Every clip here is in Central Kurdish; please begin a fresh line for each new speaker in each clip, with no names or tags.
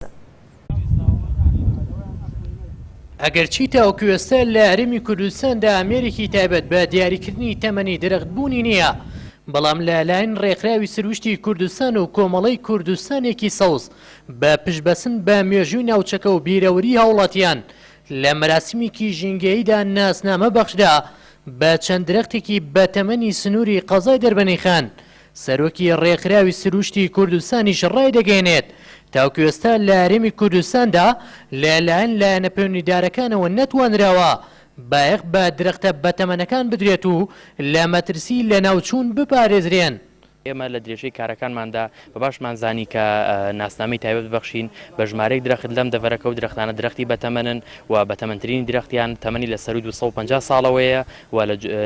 بەردەستن. ئەگەرچی تاوەکو ئێستا لە هەرێمی کوردستاندا ئامێرێکی تایبەت بە دیاریکردنی تەمەنی درەخت بوونی نییە، بەڵام لە لایەن ڕێکخراوی سروشتی کوردستان و کۆمەڵەی کوردستانێکی سەوز بە پشتبەسن بە مێژووی ناوچەکە و بیرەوەری هاوڵاتیان لە مەراسیمێکی ژینگەییدا ناسنامە بەخشرا بە چەند درەختێکی بەتەمەنی سنووری قەزای دەربەنیخان سەرۆکی ڕێکخراوی سروشتی کوردستانیش ڕایدەگەیەنێت، تاوکو ئێستا لە هەرێمی کوردستاندا لە لایەن لایەنە پەیوەندیدارەکانەوە نەتوانراوە بایەخ بە درەختە بەتەمەنەکان بدرێت و لە مەترسی لەناوچوون بپارێزرێن. ئێمە لە
درێژەی کارەکانماندا بە باشمان زانی کە ناسنامەی تایبەت ببەخشین بە ژمارەیەک درەخت لەم دەڤەرەکە و درەختانە درەختی بەتەمەنن و بەتەمەنترینی درەختیان تەمەنی لە سەرووی دوو سەد و پەنجا ساڵەوەیە. و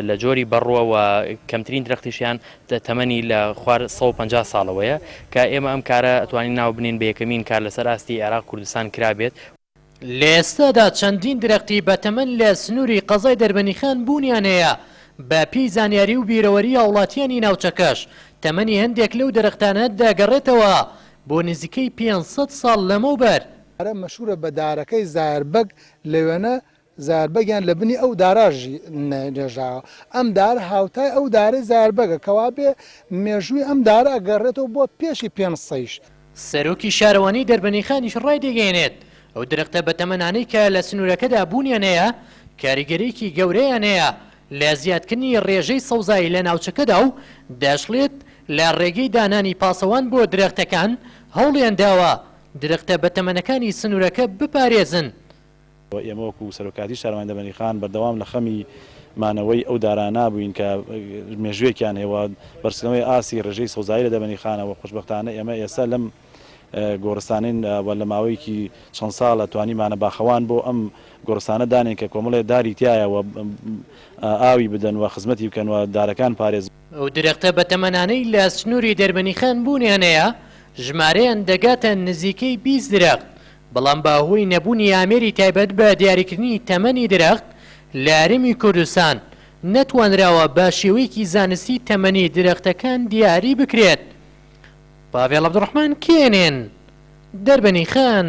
لە جۆری بەڕووە و کەمترین درەختیشیان تەمەنی لە خوار سەد و پەنجا ساڵەوەیە کە ئێمە ئەم کارە ئەتوانین ناو بنێین بە یەکەمین کار لەسەر ئاستی عێراق کوردستان کرابێت. لە
ئێستادا چەندین درەختی بەتەمەن لە سنووری قەزای دەربەنیخان بوونیان هەیە، بە پێی زانیاری و بیرەوەری هاوڵاتییانی ناوچەکەش تەمەنی هەندێک لەو درەختانە دەگەڕێتەوە بۆ نزیکەی پێنج سەد ساڵ لەمەوبەر. دارە مەشهوورە بە
دارەکەی زایەربەگ لەوێنە زایەربەگیان لە بنی ئەو دارە ژی نێژراوە، ئەم دارە هاوتای ئەو دارەی زایەربەگە کەوابێ مێژووی ئەم دارە ئەگەڕێتەوە بۆ پێشی پێنج سەیش. سەرۆکی
شارەوانیی دەربەندیخانیش ڕایدەگەیەنێت، ئەو درەختە بەتەمەنانەی کە لە سنوورەکەدا بوونیان هەیە، کاریگەرییەکی گەورەیان هەیە لە زیادکردنی ڕێژەی سەوزایی لە ناوچەکەدا و دەشڵێت، لە ڕێگەی دانانی پاسەوان بۆ درەختەکان هەوڵیان داوە درەختە بەتەمەنەکانی سنوورەکە بپارێزن. ئێمە
وەکو سەرۆکایەتی شارەوانی دەمەنیخان بەردەوام لە خەمی مانەوەی ئەو دارانە بووین کە مێژووێکیان هەیە و بەرزکردنەوەی ئاستی رێژەی سەوزایی لە دەمەنیخانە و خۆشبەختانە ئێمە ئێستا لەم گۆڕستانەین و لە ماوەیەکی چەند ساڵە توانیمانە باخەوان بۆ ئەم گۆڕستانە دانێن کە کۆمەڵێ داری تیایە و ئاوی بدەن و خزمەتی بکەن و دارەکان پارێز ئەو درەختە
بەتەمەنانەی لە سنووری دەربەنیخان بوونیان هەیە ژمارەیان دەگاتە نزیکەی بیست درەخت بەڵام بە هۆی نەبوونی ئامێری تایبەت بە دیاریکردنی تەمەنی درەخت لە هەرێمی کوردستان، نەتوانراوە بە شێوەیەکی زانستی تەمەنی درەختەکان دیاری بکرێت. پاڤێڵ عەبدولڕەحمان کێنێن، دەربەنیخان.